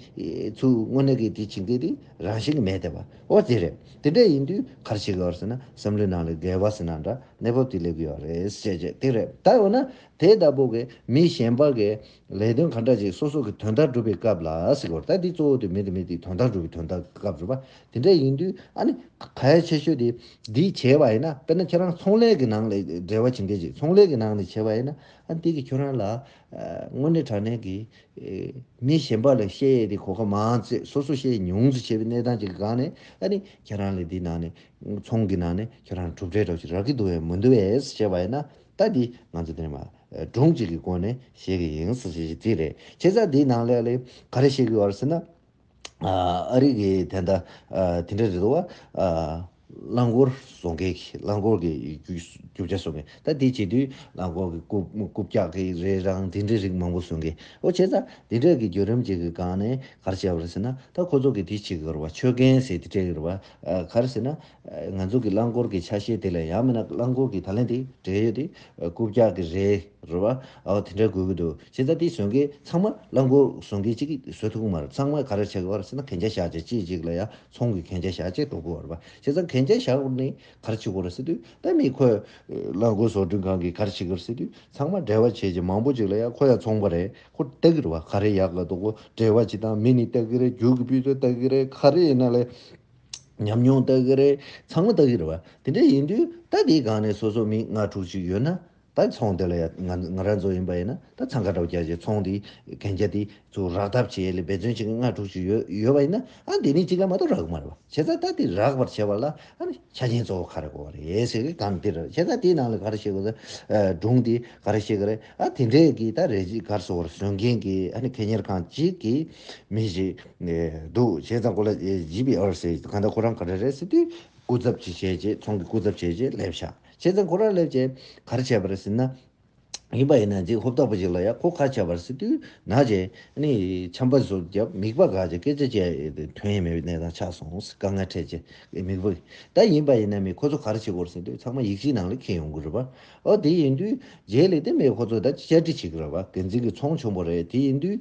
ཚུར་དངོས་གནས་ཀྱི་དེ་བྱིངས་དེ་དེ་རང་བཞིན་གྱི་མེད་དེ་བ། ཨོ་དེ་རེད། དེ་འདྲ་ཡིན་དུས་གར་ཞིག་ལོར་ཟིན་ན་བསམ་བློའི་ནང་ལ་འགལ་བ་ཟིན་ན་འདྲ་གནས་བབ་དེ་སླེབས་ཀྱི་ཡོད་རེད་ཟེར་ཅེས་དེ་རེད་ད་འོ་ན་དེ་ལྟ་བུ་གི་མི་གཞན་པ་གི་ལས་དོན་ག་འདྲ་ཅིག་སོ་སོ་གི་དོན་དག་སྒྲུབ་པའི་སྐབས་ལ་གཟིགས་དགོས་རེད་ད་འདི་གཙོ་བོ་དེ་མི་དེ་མི་དེའི་དོན་དག་སྒྲུབ་པའི་དོན་དག་གི་སྐབས་རེད་པ་དེ་འདྲ་ཡིན་དུས་ཨ་ནི་གལ་ཆེ་ཤོས་དེ་འདི་བྱས་པ་ཡིན་ན་དཔེར་ན་ཁྱེད་རང་ཚོང་ལས་ཀྱི་ནང་ལས་འབྲེལ་བ་བྱེད་མཁན་ཞིག་ཚོང་ལས་ཀྱི་ནང་ནས་བྱས་པ་ཡིན་ན་ཨ་དེ་གི་ཁྱོད་རང་ལ་དངོས་གནས་དྲང་གནས་ཀྱི་མི་གཞན་པ་ལ་བཤད་ཡས་དེ་གོ་སྐབས་མ་བཙས་སོ་སོ་བཤད་ཉུང་ཙི་བྱས་པའི་གནས་སྟངས་ཅིག་གི་སྒང་ནས་ཨ་ནི་ཁྱེད་རང་ལས་འདི་ནང་ནས་ཚོང་གི་ནང་ནས་ཁྱེད་རང་གྲུབ་འབྲས་སྒྲོག་ཅིག་རག་གི་འདུག་ཡང་མི་འདུག་བས་བྱས་པ་ཡིན་ན་ད་འདི་ང་ཚོ་དེ་མ་སྒྲུང་ཅིག་གི་སྒོ་ནས་བཤད་གི་ཡིན་ཟེར་བྱས་ཅིག་དེ་རེད་ཁྱེད་ཅག་འདི་ནང་ལས་ལས་ག་རེ་བཤད་གི་ཡོད་རེད་ཟེར་ན། ཨ་རིག་གི་དེ་འདྲ་དེ་འདྲ་རེད་འདུག་བ། རླངས་འཁོར་བཟོ་མཁན་གྱི་རླངས་འཁོར་གྱི་རྒྱུ་ཆ་བཟོ་མཁན་ད་དེ་བྱེད་དུས་རླངས་འཁོར་གྱི་རྐུབ་བཀྱག་གི་རེད་རང་དེ་འདྲའི་རིགས་མང་པོ་བཟོ་མཁན་ཨོ་བྱས་ཙང་དེ་འདྲ་གི་བརྒྱུད་རིམ་ཅིག་གི་སྒང་ནས་ག་རེ་བྱས་པ་རེད་ཟེར་ན་ད་ཁོ་ཚོ་གི་དེ་བྱེད་གི་རེད་བ་ཆོད་གན་ཟེར་དེ་འདྲ་གི་རེད་བ། ག་རེ་ཟེར་ན་ང་ཚོ་གི་རླངས་འཁོར་གི་ཆ་ཤས་དེ་ལས་ཡང་མིན་ན་རླངས་འཁོར་གི་ད་ལན་དེ་བྲེལ་ཡོད་དེ་རྐུབ་བཀྱག་གི་རེད་རེད་བ་ཨའོ་དེ་འདྲ་དགོས་གི་འདུག་བྱས་ཙང་དེ་བཟོས་མཁན་ཚང་མ་རླངས་འཁོར་བཟོ་མཁན་གཅིག་གིས་བཟོས་ཐུབ་གི་མ་རེད་ཚང་མས་ག་རེ་བྱས་གི་བ་རེད་ཟེར་ན་གན་རྒྱ་བཞག་བྱས་ཅི་ཅིག་ལ་ཡང་ཚོང་གི་གན་རྒྱ་བཞག་བྱས་འགྲོ་གི་བ་རེད་བ་བྱས་ཙང་གན་རྒྱ་བཞག་གི་ནས་ག་རེ་བྱེད་གི་བ་རེད་ཟེར་དུས་ད་མི་ཁོས་རླངས་འཁོར་བཟོ་སྐྲུན་ཁང་གིས་ག་རེ་བྱེད་གི་རེད་ཟེར་དུས་ཚང་མ་བྲེལ་བ་བྱས་ཀྱི་མང་པོ་ཅིག་ལ་ཡང་ཁོ་ཡང་ཚོང་བ་རེད་ཁོ་ལྟ་གི་རེད་བ་ག་རེ་ཡག་གི་འདུག་བྲེལ་བ་བྱེད་སྟངས་མི་ནི་ལྟ་གི་རེད་རྒྱུག་གི་དཔེ་ཚོད་ལྟ་གི་རེད་ག་རེ་ཡིན་ན་ལས། ཉམས་མྱོང་ལྟ་གི་རེད་ཚང་མ་ལྟ་གི་རེད་བ། དེ་འདྲ་ཡིན་དུས་ད་དེའི་སྒང་ནས་སོ་སོ་མི་ལྔ་དྲུག་ཅིག་ཡོད་ན། ད་ཚོང་དེ་ལ་ཡ་ང་རང་ཚོ་ཡིན་པ་ཡིན་ན་ད་ཚང་ཁ་གྲགས་བརྒྱ་བྱས་ཚོང་དེ་གན་རྒྱ་དེ་ཚོ་རག་ཐབས་བྱས་ལས་འབད་བརྩོན་བྱེད་མཁན་ལྔ་དྲུག་ཅིག་ཡོད་ཡོད་པ་ཡིན་ན་ཨང་དེ་ནས་གཅིག་ལ་མ་གཏོགས་རག་གི་མ་རེད་བ། བྱས་ཙང་ད་དེ་རག་པར་བྱས་པ་ལ་ཨང་ཆ་རྐྱེན་གཙོ་བོ་ག་རེ་གོ་བ་རེད་ཟེར་གི་སྒང་དེ་རེད་བྱས་ཙང་དེའི་ནང་ལ་ག་རེ་བཤད་དགོས་ད་སྒྲུང་དེ་ག་རེ་བཤད་གི་རེད་ཨང་དེ་འདྲས་ཀྱི་ད་རེ་གཅིག་གར་སོ་བར་བཟོས་མཁན་གྱི་ཨང་གད་གཉེར་ཁང་གཅིག་གིས། མི་ཞིག་འདུག་བྱས་ཙང་ཁོ་ལ་བྱིས་པའི་ཨོ་ཟེར་གང་ལྟར་ཁོ་རང་ག་རེ་རེད་ཟེར་དུས་སྐུ་ཚབ་ཅིག་བྱས་རྗེས་ཚོང་གི་སྐུ་ཚབ་བྱས་རྗེས་སླེབས་ཤག་བྱས་ཙང་ཁོ་རང་སླེབས་རྗེས་གར་བྱས་པ་རེད་ཟེར་ན། ཡིན་པ་ཡིན་ན་འཇིགས་ཧོབ་ལྟ་བུ་ཞིག་ལ་ཡ་ཁོ་གར་བྱས་པ་རེད་ཟེར་དུས་ན་རྗེས་ནས་ཆམ་པ་ཟུར་བརྒྱབ་མིག་པ་འགག་རྗེས་སྐད་ཆ་བཤད་དོན་ཡེ་མེད་པའི་གནས་སྟངས་ཆགས་སོང་དཀའ་ངལ་འཕྲད་རྗེས་མིག་པ་གིས་ད་ཡིན་པ་ཡིན་ན་མི་ཁོ་ཚོ་གར་བྱེད་དགོས་ཟེར་དུས་ཚང་མ་ཡིག་གཅིག་ནང་ལ་འཁེལ་ཡོང་གི་རེད་པ་ཨོ་དེ་ཡིན་དུས་རྗེས་ལས་དེ་མི་ཁོ་ཚོ་ད་བཅར་འདྲི་བྱེད་ཀྱི་རེད་པ་འགན་འཛིན་གྱི་ཚོང་ཆུང་པོ་རེད་དེ་ཡིན་དུས་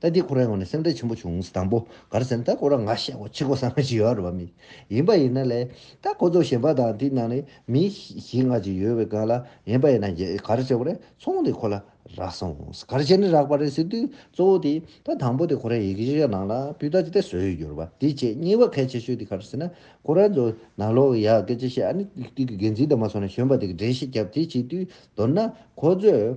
ད་འདི་ཁོ་རང་ངོ་ནས་སེམས་ཁྲལ་ཆེན་པོ་བྱུང་ཟེར་དང་པོ་གར་ཟེར་ན་ད་ཁོ་རང་ང་ཤེས་ཁོ་ཕྱི་ཁོ་ས་ང་ཞིག་ཡོད་རེད་བ་མི་ཡིན་པ་ཡིན་ན་ལས་ད་ཁོ་ཚོ་གཞན་པ་དང་དེ་ནང་ནས་མི་གཞིས་ལྔ་ཅིག་ཡོད་བའི་སྒང་ལ་ཡིན་པ་ཡིན་ན་གར་ཟེར་བ་རེད་ཚོང་དེ་ཁོ་ལ་རག་སོང་གར་བྱས་ནས་རག་པ་རེད་ཟེར་དུས་གཙོ་བོ་དེ་ད་དང་པོ་དེ་ཁོ་རང་ཡི་གེ་ཤེས་ཡ་ནང་ལ་སྤུས་དག་ཅིག་ད་བཟོས་ཡོད་རྒྱུར་བ་དེ་བྱས་གཉིས་བ་གལ་ཆེ་ཤོས་དེ་གར་ཟེར་ན་ཁོ་རང་ཚོ་ནང་ལོག་གི་ཡ་གེ་ཅིག་བཤད་ཨ་ནི་དེ་གི་འགན་འཛིན་དང་མ་སོང་ན་གཞོན་པ་དེ་གི་འགྲན་ཤེས་རྒྱབ་དེ་བྱས་དུས་མདོར་ན་ཁོ་ཚོས་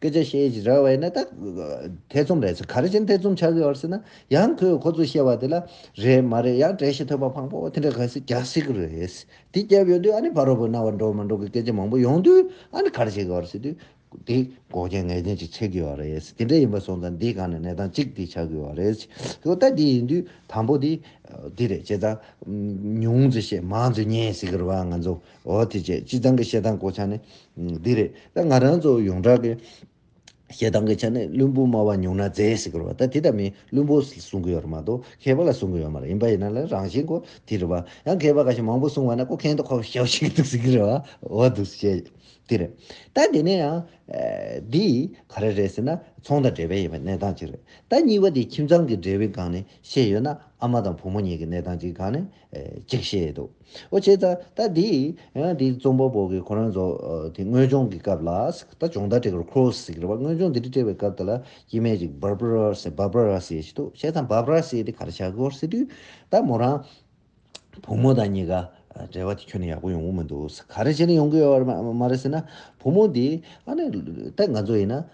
སྐད་ཆ་བཤད་ཀྱི་རེད་བས་ན་ད། ཐེ་ཚོམ་རེད་ཟེར་ག་རེ་བྱས་ནས་ཐེ་ཚོམ་ཆགས་ཀྱི་ཡོད་ཟེར་ན། ཡང་ཁོས་ཁོ་ཚོས་བཤད་པ་དེ་ལ། རེད་མ་རེད་ཡང་གྲས་ཤིག་ཐོས་པ་ཕངས་པོ་དེ་འདྲ་ག་ཟེར་རྒྱག་སྲིད་ཀྱི་རེད། དེ་བསྐྱལ་ཡོད་དུས་ཨ་ནི་ཕ་རོལ་པོའི་རྣ་བར་འགྲོ་མི་འགྲོ་གི་སྐད་ཆ་མང་པོ་ཡོང་དུས་ཨ་ནི་ག་རེ་བྱེད་ཀྱི་ཡོད་ཟེར་དུས། དེ་འགོག་རྐྱེན་ངེས་ཅན་ཅིག་ཆགས་ཀྱི་ཡོད་རེད། དེ་འདྲ་ཡིན་པ་སོང་ཙང་འདིའི་སྒང་ནས་གནས་སྟངས་གཅིག་དེ་ཆགས་ཀྱི་ཡོད་རེད། ཚོད་ལྟ་དེ་ཡིན་དུས་དང་པོ་དེ། དེ་རེད་བྱས་ཙང། ཉུང་ཙི་བཤད་མང་ཙི་ཉན་ཟེར་གྱི་རེད་བ་ང་ཚོ། འོ་དེ་ཅི་སྤྱི་ཚང་གི་བཤད་སྟངས་གོ་ཆ་ནི་འདི་རེད་ད་ང་རང་ཚོ་ཡོངས་གྲགས་ཀྱི་བཤད་སྟངས་ཀྱི་ཆ་ནི་བླུན་པོ་སྨྲ་བ་ཉུང་ན་མཛེས་ཞེས་སྐོར་བ་ད་དེ་ལྟ་མིན་བླུན་པོ་གསུང་གི་ཡོད་རེད་མ་གཏོགས་མཁས་པ་ལ་གསུང་གི་ཡོད་མ་རེད་ཡིན་པ་ཡིན་ན་ལ་རང་བཞིན་གོ་དེ་རེད་བ་ཡང་མཁས་པ་ག་ཤེད་མང་པོ་གསུང་བ་ན་ཀོ་མཁན་དུ་ཁོ་བོ་ཤེའོ་ཤེས་ཀྱི་འདུག་ཟེར་གྱི་རེད་བ་འོ་འདུག་བཤད་དེ་རེད་ད་དེ་ནས་ཡང་འདི་ག་རེ་རེད་ཟེར་ན་ཚོང་དང་འབྲེལ་བའི་ཡིན་པའི་གནས་སྟངས་གཅིག་རེད་ད་གཉིས་པ་དེ་ཁྱིམ་ཚང་གི་འབྲེལ་བའི་སྒང་ནས་བཤད་ཡོད་ན་ཨ་མ་དང་བུ་མོ་གཉིས་ཀྱི་གནས་སྟངས་གཅིག་གི་སྒང་ནས་ཅིག་བཤད་འདུག་ཨོ་བྱས་ད་ད་དེ་ཡང་དེ་རྩོམ་པ་པོ་གི་ཁོ་རང་ཚོ་དེ་དངོས་སྦྱོང་གི་སྐབས་ལ་ད་སྦྱོང་བརྡ་སྤྲད་གི་རེད Cross ཟེར་གི་རེད་བ་དངོས་སྦྱོང་དེ་དྲི་སྤྲད་པའི་སྐབས་དེ་ལ་དཀྱིས་མའི་ཅིག Barbara ཟེར Barbara ཟེར་ཞིག་འདུག་བྱས་ཙང Barbara ཟེར་དེ་ག་རེ་བྱ་གི་འོར་ཟེར་དུས་ད་མོ་རང་བུ་མོ་དང་གཉིས་ཀ་འབྲེལ་བ་དེ་ཁྱོན་ནས་ཡག་པོ་ཡོང་གི་མི་འདུག་ག་རེ་བྱས་ནས་ཡོང་གི་ཡོད་བ་རེད་མ་རེད་ཟེར་ན་བུ་མོ་དེ་ཨ་ནི་ད་ང་ཚོ་ཡིན་ན་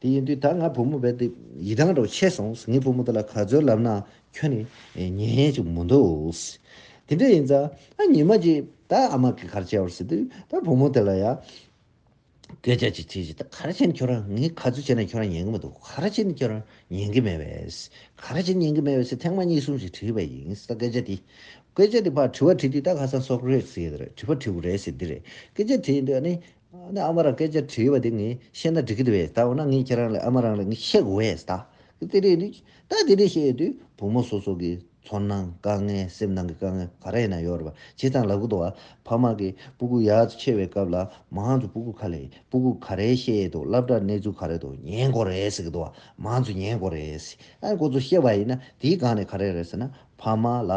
དེ་ཡིན་དུས་ད་ང་བུ་མོ་བས་དེ་ཡི་དྭངས་དྲོ་ཆེ་སོང་ངས་བུ་མོ་དེ་ལ་ག་ཚོད་ལབ་ནའང་ཁྱོད་ནི་ཉན་ཡས་ཅིག་མི་འདུག། དེ་འདྲ་ཡིན་ཙང་ཉི་མ་གཅིག་ད་ཨ་མ་གིས་གར་བྱེད་བར་ཟེར་དུས་ད་བུ་མོ་དེ་ལ་ཡང་སྐད་ཆ་ཅིག་བྱས་རྗེས་ད་གར་བྱེད་ནི་ཁྱོད་རང་ངས་ག་ཚོད་བྱས་ནའང་ཁྱོད་རང་ཉན་གི་མི་འདུག་གར་བྱེད་ནི་ཁྱོད་རང་ཉན་གི་མེད་པས། གར་བྱེད་ཉན་གི་མེད་པས་ཐེངས་མ་གཉིས་གསུམ་ཞིག་དྲིས་པ་ཡིན་ད་སྐད་ཆ་དེ། སྐད་ཆ་དེ་ཕར་དྲི་བ་དྲིས་དུས་ད་ཁ་སང་སོག་རིགས་ཟེར་གི་རེད་དྲི་བ་དྲིས་པ་རེད་ཟེར་གི་རེད་སྐད་ཆ་དྲིས་ཡིན་དུས་ཨ་ནི་ནས་ཨ་མ་རང་སྐད་ཆ་དྲིས་པ་དེ་ངས་བཤད་ན་འགྲིག་གི་རེད་ད་འོ་ན་ངས་ཁྱེད་རང་ལ་ཨ་མ་རང་ལ་ངས་བཤད་གི་འོས་ད་གི་དེ་རེད་དུས་ད་དེ་རེད་བཤད་ཡོད་དུས་བུ་མོ་སོ་སོ་གི་ཚོར་སྣང་དཀའ་ངལ་སེམས་ནང་གི་དཀའ་ངལ་ག་རེ་ཡིན་ན་ཡོད་རེད་པ་བྱས་ཙང་ལ་ཁུག་ཏུ་བ་ཕ་མ་གི་སྤུ་གུ་ཡག་ཏུ་ཆེ་བའི་སྐབས་ལ་མང་ཚོ་སྤུ་གུ་ཁ་ལས་སྤུ་གུ་ག་རེ་བཤད་ཡོད་དུ་སླབ་གྲ་གནས་ཚུལ་ག་རེ་དུ་ཉན་གོ་རེད་ཟེར་གི་དུ་བ་མང་ཚོ་ཉན་གོ་རེད་ཟེར་ཨ་ཁོ་ཚོ་བཤད་པ་ཡིན་ན་དེའི་སྒང་ནས་ག་རེ་རེད་ཟེར་ན་ཕ་མ་ལ་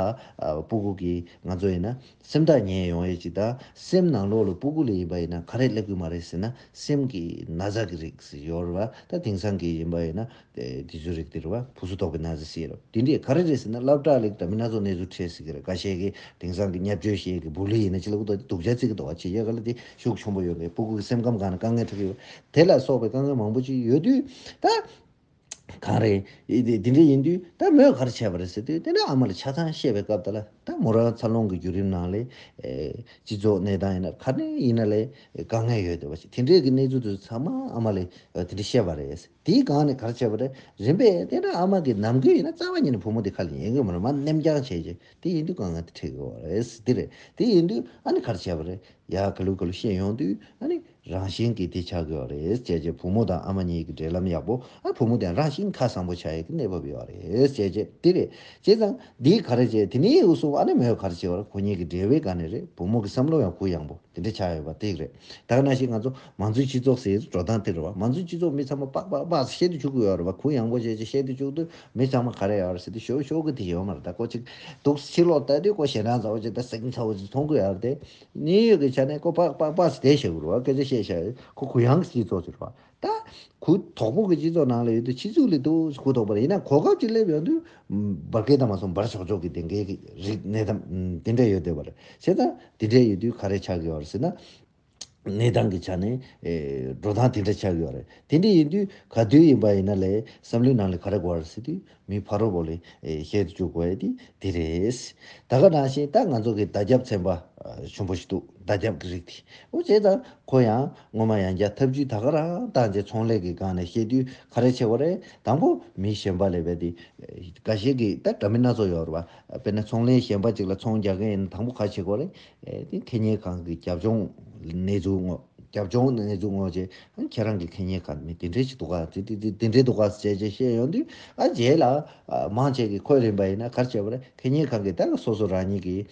སྤུ་གུ་གིས་ང་ཚོ་ཡིན་ན་སེམས་ཐག་ཉེ་ཡོང་ཡས་ཅིག་དང་སེམས་ནང་ལོགས་ལ་སྤུ་གུ་ལས་ཡིན་པ་ཡིན་ན་ག་རེ་ཀླད་ཀུན་མ་རེད་ཟེར་ན་སེམས་ཀྱི་ན་བཟའ་གི་རིགས་ཟེར་ཡོད་རེད་བ་ད་དེང་སང་གི་ཡིན་པ་ཡིན་ན་དེ་ཚོའི་རིགས་དེ་རེད་བ་བུ་གསོ་དོག་གི་ན་བཟའ་ཟེར་ཡོད་རེད་དེ་འདྲས་ག་རེ་རེད་ཟེར་ན་བསླབ་གྲྭ་ལས་དྲ་མི་སྣ་ཚོགས་གནས་ཚུལ་འཕྲད་སྲིད་གི་རེད་ག་བཤད་གི་དེང་སང་གི་ཉབ་ཆོས་བཤད་གི་བུ་ལྷི་ཡིན་ན་ཅི་ལ་ཀུ་དོག་སྡུག་ཅག་རྩིས་གི་དོག་ཆེ་ཡས་ག་ལ་དེ་ཤུགས་ཆུང་པོ་ཡོད་གི་སྤུ་གུ་གི་སེམས་ཁམས་གང་ན་དཀའ་ངལ་འཕྲད་གི་ཡོད་དེ་ལ་སོགས་པའི་དཀའ་ངལ་མང་པོ་ཅིག་ཡོད་དུས་ད། གང་རེད། དེ་འདྲ་ཡིན་དུས་ད་མོས་གར་བྱས་པ་རེད་ཟེར་དུས་དེ་འདྲ་ཨ་མ་ལ་ཆ་ཚང་བཤད་པའི་སྐབས་དེ་ལ་ད་མོ་རང་འཚར་ལོངས་ཀྱི་བརྒྱུད་རིམ་ནང་ལས། སྤྱི་ཚོགས་གནས་སྟངས་ཡིན་ན་ག་ནས་ཡིན་ན་ལས་དཀའ་ངལ་ཡོད་དེ་བ་ཞིག་དེ་འདྲའི་གི་གནས་ཚུལ་དེ་ཚོ་ཚང་མ་ཨ་མ་ལས་དེ་འདྲ་བཤད་པ་རེད་ཟེར་དེའི་སྒང་ནས་གར་བྱས་པ་རེད་རིམ་པས་དེ་འདྲ་ཨ་མ་གི་ནམ་གུས་ཡིན་ན་རྩ་བ་ཉིད་ནས་བུ་མོ་དེ་ཁ་ལ་ཉན་གི་མ་རེད་མ་ནེམ་རྐྱང་བྱས་རྗེས་དེ་ཡིན་དུས་དཀའ་ངལ་དེ་འཕྲད་གི་རེད་ཟེར་དེ་རེད་དེ་ཡིན་དུས་ཨ་ནི་གར་བྱས་པ་རེད་ཡ་ག་ལུགས་ག་ལུགས་བཤད་ཡོང་དུས་ཨ་ནི། རང་བཞིན་གྱིས་དེ་བྱ་དགོས་བ་རེད་ཅེས་རྗེས་བུ་མོ་དང་ཨ་མ་གཉིས་ཀྱི་འབྲེལ་ལམ་ཡག་པོ་ཨ་བུ་མོ་དེ་རང་བཞིན་ཁ་བཟང་པོ་བྱ་ཡི་གི་གནས་བབ་ཡོད་བ་རེད་ཅེས་རྗེས་དེ་རེད་བྱས་ཙང་འདིའི་ག་རེ་བྱས་དེ་ནི་ཨུ་སུམ་ཨ་ནེ་མོའི་ག་རེ་བྱས་བར་ཁོ་གཉིས་ཀྱི་འབྲེལ་བའི་ག་ནས་རེད་བུ་མོ་གི་བསམ་བློ་ཡང་གུ་ཡངས་པོ་དེ་འདྲ་ཆགས་ཡོད་བ་དེ་རེད་དག་ན་ཞིག་ང་ཚོ་མང་གཙོའི་སྤྱི་ཚོགས་ཟེར་འགྲོ་སྟངས་དེ་རེད་བ་མང་གཙོའི་སྤྱི་ཚོགས་མི་ཚང་མ་པགས་པགས་པགས་བཤད་དུ་བཅུག་གི་ཡོད་རེད་བ་གུ་ཡངས་པོ་བྱས་ཅིག་བཤད་དུ་བཅུག་དུས་མི་ཚང་མ་ག་རེ་ཡོད་རེད་ཟེར་དུས་ཤོག་ཤོག་གི་དེ་ཡོད་མ་རེད་ད་ཀོ་ཅིག་འདུག་ཕྱི་ལོག་ལྟ་དུས་ཀོ་ཞེ་འདྲང་ཚ་བོ་ཅིག་དང་སེང་ཚ་བོ་ཅིག་མཐོང་གི་ཡོད་རེད་དེ་གནས་ཡོད་ཀྱི་ཆ་ནས་ཀོ་ཕག་པགས་པགས་སུ་དེ་བྱེད་དགོས་རུ་བ་སྐད་ཆ་བཤད་བྱ་ཡོད་ཁོ་གུ་ཡངས་ཀྱི་སྤྱི་ཚོགས་ཆེ་རུ་བ་ད། གུ་དོག་པོ་གི་སྤྱི་ཚོགས་ནང་ལ་ཡོད་དུས་ཕྱི་ཚུལ་ལས་དུ་གུ་དོག་པོ་རེད་ཡིན་ན་གོ་སྐབས་ཅིག་སླེབས་ཡོང་དུས་འབར་སྐད་དང་མ་སོང་འབར་ཆོག་ཆོག་གི་དེ་འགའི་རིག་གནས་དང་དེ་འདྲ་ཡོད་བསྡད་པ་རེད་བྱས་ཙང་དེ་འདྲ་ཡོད་དུས་ག་རེ་ཆགས་ཡོད་རེད་ཟེར་ན། གནས་སྟངས་ཀྱི་ཆ་ནས་འགྲོ་སྟངས་དེ་འདྲ་ཆགས་ཡོད་རེད་དེ་འདྲ་ཡིན་དུས་ག་དུས་ཡིན་པ་ཡིན་ན་ལས་བསམ་བློའི་ནང་ལས་ག་རེ་དགོས་རེད་ཟེར་དུས་མི་ཕ་རོལ་པོ་ལས་བཤད་དུ་བཅུག་པ་དེ་དེ་རེད། ད་ག་ནང་བཞིན་ད་ང་ཚོ་གི་ཟླ་རྒྱབ་ཚན་པ་ཆུན་པོ་ཞིག་འདུག་ཟླ་རྒྱབ་གི་རིགས་དེ་འོ་བྱས་ད་ཁོ་ཡང་སྔོན་མ་ཡང་བརྒྱ་ཐབས་ཇུས་ད་ག་རང་བཏང་རྗེས་ཚོང་ལས་ཀི་སྒང་ནས་བཤད་དུས་ཁ་རས་ཆེ་བ་རེད་དང་པོ་མི་གཞན་པ་ལས་བས་དེ་ག་ཞིག་གི་ད་དྲ་མི་སྣ་ཚོ་ཡོད་རེད་བ་དཔེར་ན་ཚོང་ལས་གཞན་པ་ཅིག་ལ་ཚོང་རྒྱག་གི་ཡིན་ན་དང་པོ་ཁ་ཆེ་གོ་རེད། ཁེ་གཉེར་ཁང་གི་རྒྱབ་ལྗོངས་གནས་ཚུལ་དངོས་རྒྱབ་ལྗོངས་གནས་ཚུལ་དངོས་བཅས་ཁྱེད་རང་གི་ཁེ་གཉེར་ཁང་མི་དེ་འདྲའི་ཞིག་འདུག་ག་དེ་འདྲའི་འདུག་ག་བཅས་བཅས་བཤད་ཡོང་དུས་ཨ་རྗེས་ལ་མང་ཆེ་གི་ཁོས་རིམ་པ་ཡིན་ན་གར་བྱས་པ་རེད་ཁེ་གཉེར་ཁང་གིས་ད་ལ་སོ་སོ་རང་ཉིད་ཀྱི་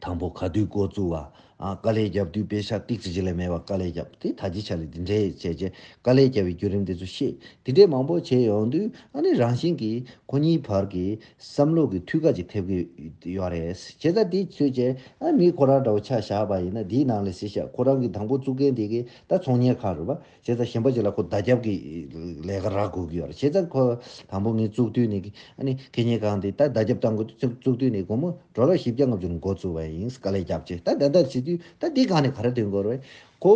དང་པོ་ག་དུས་འགོ་བཙུགས་བ་དཀའ་ལས་བརྒྱབ་དུས་དཔེ་ཆ་ཏིག་ཅི་ཅི་ལས་མེད་པ་དཀའ་ལས་བརྒྱབ་དེ་ད་ཅི་ཆ་ལས་དེ་འདྲས་བྱས་བྱས་དཀའ་ལས་བརྒྱབ་པའི་བརྒྱུད་རིམ་དེ་ཚོ་བཤད་དེ་འདྲས་མང་པོ་བྱས་ཡོང་དུས་ཨ་ནི་རང་བཞིན་གྱིས་ཁོ་གཉིས་བར་གྱི་བསམ་བློ་གི་མཐུད་ཁ་ཅིག་ཐེབས་ཀྱི་ཡོད་རེད། བྱས་ཙང་དེ་ཚོས་ཀྱང་ཨ་མི་ཁོ་རང་འདྲ་བོ་ཆ་བཞག་པ་ཡིན་ན་དེའི་ནང་ལས་སེ་ཤ་ཁོ་རང་གི་དང་པོ་བཙུགས་མཁན་དེ་གས་ད་ཚོང་གཉེར་ཁང་རེད་པ། བྱས་ཙང་གཞན་པ་ཅིག་ལ་ཁོ་བདའ་རྒྱབ་ཀྱི་ལས་ཀ་རག་དགོས་ཀྱི་ཡོད་རེད་བྱས་ཙང་ཁོ་དང་པོ་ངས་བཙུགས་དུས་ནས་ཨ་ནི་གད་སྙིགས་ཁང་དེ་ད་བདའ་རྒྱབ་བཏང་དགོས་དུས་བཙུགས་དུས་ནས་དགོང་མོ་གྲོ་ལོག་བཞི་བརྒྱ་ལྔ་བཅུར་མགོ་བཙུགས་པ་ཡིན་དཀའ་ལས་རྒྱབ་ཅིག་ད་ད་ལྟར་བྱས་དུས་ད་དེ་གང་ནས་ག་རེ་དོན་གོ་རེད། ཁོ་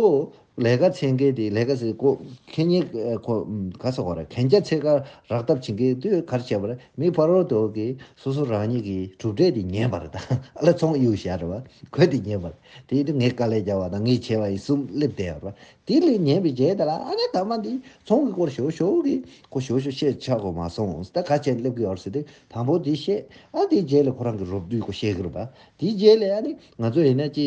ལས་ཀ་ཚེ་འགས་དེ་ལས་ཀ་ཚེ་ཀོ་གྷན་ཉེ་ཁོ་ག་ས་གོ་ར་གྷན་རྒྱ་ཚེ་ཀ་རག་ཐབས་བྱིན་གས་དུས་གར་བྱས་པར་མི་ཕ་རོལ་དོ་གི་སོ་སོ་རང་ཉིད་ཀྱི་གྲུབ་འབྲས་དེ་ཉན་པར་དང་ཨ་ལ་ཚོང་གཡུག་ཞག་རེ་བ་གོས་དེ་ཉན་པར་དེའི་དུས་ངས་དཀའ་ལས་བརྒྱག་བ་དང་ངས་བྱས་བ་ཡི་གསུམ་སླེབས་བསྡད་ཡོད་པར་དེ་ལས་ཉན་པའི་རྗེས་ད་ལ་ཨ་ལས་ད་མ་འདི་ཚོང་གི་སྐོར་ཞོ་ཞོ་གི་ཁོ་ཞོ་ཞོ་བཤད་ཆག་གོ་མ་སོང་ད་ག་བྱས་སླེབས་གི་ཡོད་ཟེར་ཏེ་དང་པོ་དེ་བཤད་ཨ་དེའི་རྗེས་ལས་ཁོ་རང་གི་རོབ་བསྡུས་ཀོ་བཤད་གི་རུ་བ་དེའི་རྗེས་ལས་ཨ་ནི་ང་ཚོ་ཡིན་ན་ཅི།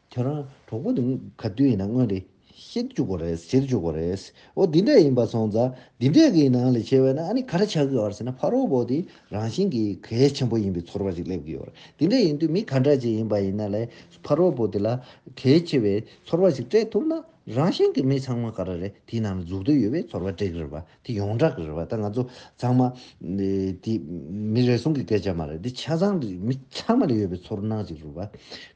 ཁྱོད་རང་གྲོགས་པོ་དེ་ག་དུས་ཡིན་ན་སྔོན་རེ་ཤེས་བཅུག་པ་རེད་ཟེར་བཅུག་པ་རེད། འོ་འདི་འདྲ་ཡིན་པ་སོང་ཙང་འདི་འདྲས་ཀྱི་ནང་ལས་ཆེ་བས་ན་ཨ་ནི་ག་རེ་བྱ་གི་ཨོ་ཟེར་ན་ཕ་རོལ་བོ་དེ་རང་བཞིན་གྱིས་གལ་ཆེན་པོ་ཡིན་པའི་ཚོར་བ་ཞིག་སླེབས་ཀྱི་ཡོད། འདི་འདྲས་ཡིན་དུས་མི་ག་འདྲ་ཅིག་ཡིན་པ་ཡིན་ན་ལས་ཕ་རོལ་བོ་དེ་ལ་གལ་ཆེ་བའི་ཚོར་བ་ཞིག་སྤྲད་ཐུབ་ན་རང་བཞིན་གྱིས་མི་ཚང་མ་ག་རེ་རེ་དེའི་ནང་ལ་འཛུགས་འདོད་ཡོད་པའི་ཚོར་བ་སྤྲད་ཀྱི་རེད་པ། དེ་ཡོངས་གྲགས་ཀྱི་རེད་བ་ད་ང་ཚོ་ཚང་མ། དེ་མི་རེ་ཟུང་གི་སྐད་ཆ་མ་རེད་དེ་ཆ་ཚང་གི་མི་ཚང་མ་ལ་ཡོད་པའི་ཚོར་སྣང་ཞིག་རེད་བ།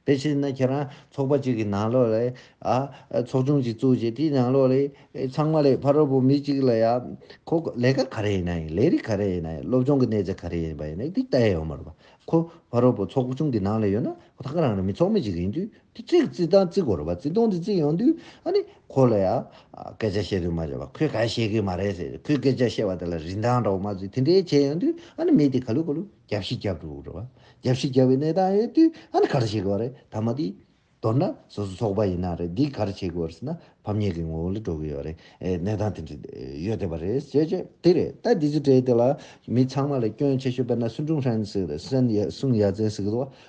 དེ་བྱས་ན་ཁྱེད་རང་ཚོགས་པ་གཅིག་གི་ནང་ལོགས་ལ། ཚོགས་ཆུང་གཅིག་བཙུགས་རྗེས་དེའི་ནང་ལོགས་ལས་ཚང་མ་ལས་ཕ་རོལ་པོ་མི་གཅིག་ལ་ཡང། ཁོ་ལས་ཀ་ག་རེ་ཡིན་ན་ཡིན་ལས་རིགས་ག་རེ་ཡིན་ན་ཡིན་སློབ་སྦྱོང་གི་གནས་ཚད་ག་རེ་ཡིན་པ་ཡིན་ན་དེ་ལྟ་ཡས་ཡོད་མ་རེད་བ། ཁོ་ཕ་རོལ་པོ་ཚོགས་ཆུང་གི་ནང་ལ་ཡོད་ན་ཁོ་ཐག་རང་རེ་མི་ཚོགས་མི་གཅིག་ཡིན་དུས་དེ་རྩིག་རྩིག་དང་རྩིག་གོ་རེད་པ་རྩིག་སྟོང་དེ་རྩིག་ཡོང་དུས་ཨ་ནི་ཁོ་ལ་ཡང་སྐད་ཆ་བཤད་དུས་མ་བྱས་པ་ཁོས་ག་ཤེས་ཀི་མ་རེད་ཟེར་ཁོས་སྐད་ཆ་བཤད་པ་དེ་ལ་རིན་ཐང་འདྲ་བོ་མ་བཟོས་དེ་འདྲའི་བྱས་ཡོང་དུས་ཨ་ནི་མི་དེ་ག་ལུས་ག་ལུས་རྒྱབ་ཤི་རྒྱབ་འགྲོ་རེད་པ་རྒྱབ་ཤི་རྒྱབ་པའི་གནས་སྟངས་ཡོད་དུས་ཨ་ནི་ག་རེ་བྱེད་ཀི་བ་རེད་ད་མ་དེ་མདོར་ན་སོ་སོ་ཚོགས་པ་ཡིན་ན་རེད་འདི་ག་རེ་བྱེད་ཀི་བ་རེད་ཟེར་ན་ཕམ་ཉེས་ཀི་ངོ་བོ་ལ་འགྲོ་ཀི་ཡོད་རེད་གནས་སྟངས་དེ་འདྲ་ཡོད་བསྡད་པ་རེད་བྱས་བྱས་དེ་རེད་ད་དེ་ཚོའི་གྲས་དེ་ལ་མི་ཚང་མ་ལ་སྐྱོན་ཆེ་ཤོས་དཔེར་ན་སུན་ཀྲུང་ཧྲན་ཟེར་སན་ཡ་སུང་ཡ་ཙེན་ཟེར་གི་འདུག་བ།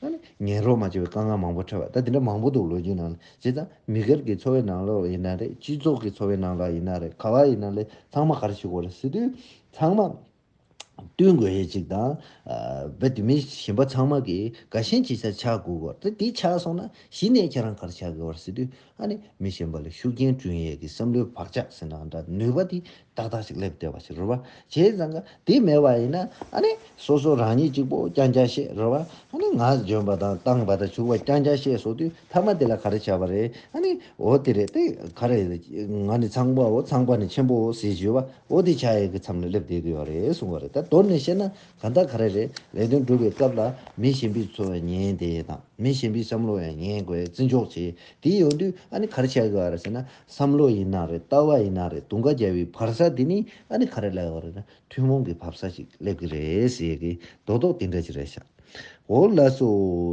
ད་ནི་ངན་རོགས་མ་བྱས་པའི་དཀའ་ངལ་མང་པོ་འཕྲད་པ་ད་དེ་འདྲ་མང་པོ་འདུག་ལོ་རྒྱུས་ནང་ལ་བྱས་ཙང་མི་སྒེར་གྱི་འཚོ་བའི་ནང་ལ་ཡིན་ན་རེད་སྤྱི་ཚོགས་ཀྱི་འཚོ་བའི་ནང་ལ་ཡིན་ན་རེད་ག་བ་ཡིན་ན་ལེ་ཚང་མ་ག་རེ་ཞིག་འོ་རེ་སི་དུས་ཚང་མ་བསྟུན་དགོས་ཡས་ཅིག་དང་བེ་དེ་མིན་ཞིན་པ་ཚང་མ་གི་ག་ཞིན་ཅིག་ཆ་ཆག་དགོས་གོ་རེ་དེ་ཆག་སོང་ན་གཞི་ནས་ཁྱེད་རང་ག་རེ་ཆག་གི་འོ་རེ་སི་དུས་ཨ་ནི་མི་ཞིན་པ་ལ་ཤུགས་རྐྱེན་བསྐྲུན་ཡས་ཀྱི་བསམ་བློའི་བག་ཆགས་ཟེར་ན་འདྲ་ནུས་པ་དེ་ཏག་ཏག་ཅིག་སླེབས་བལྟས་པ་ཞིག་རོལ་བ་བྱས་ཙང་ཀ་དེ་མེད་པ་ཡིན་ན་ཨ་ནི་སོ་སོ་རང་ཉིད་གཅིག་པོ་རྐྱང་རྐྱང་བཤད་རོལ་བ་ཨ་ནི་ངག་འཇོན་པ་དང་སྟངས་པ་དང་བྱུག་པ་རྐྱང་རྐྱང་བཤད་སོང་དུས་མཐའ་མ་དེ་ལ་ག་རེ་བྱ་བ་རེད་ཨ་ནི་འོ་དེ་རེད་ཏེ་ག་རེ་ང་ནི་ཚངས་པའོ་ཚངས་པ་ནི་ཆེན་པོའོ་ཟེར་བཞིན་བའོ་དེ་བྱ་ཡས་ཀྱི་མཚམས་ལ་སླེབས་བལྟས་ཀྱི་ཡོད་རེད་གསུངས་བ་རེད་ད་དོར་ནས་བཤད་ན་གང་དག་ག་རེ་རེད་ལས་དོན་སྒྲུབ་པའི་སྐབས་ལ་མི་གཞན་པའི་འཚོ་བའི་ཉན་བདེ་དང་མི་གཞན་པའི་བསམ་བློ་ཡང་ཉན་དགོས་བརྩི་འཇོག་བྱེད་དེ་ཡོང་དུས་ཨ་ནི་ག་རེ་བྱ་གི་ཡོད་རེད་ཟེར་ན་བསམ་བློ་ཡིན་ན་རེད་ལྟ་བ་ཡིན་ན་རེད་དུང་ཁ་རྒྱལ་བའི་བར་ས་དེ་ནི་ཨ་ནི་ག་རེ་ལབ་ཡོང་རེད་ན་ཐུན་མོང་གི་བབ་ས་ཞིག་སླེབས་ཀྱི་རེད་ཟེར་གི་རྡོག་རྡོག་དེ་འདྲ་ཅིག་རེད་ཤག་འོ་ལགས་སོ་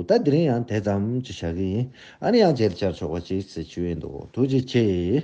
ད་འདི་རིང་ཡང་དེ་ཙམ་གྱིས་བཞག་གི་ཡིན་ཨ་ནི་ཡང་བརྗེད་བྱར་ཆོག་པ་ཅིག་ཟེར་གྱི་འདུག་ཐུགས་རྗེ་ཆེ།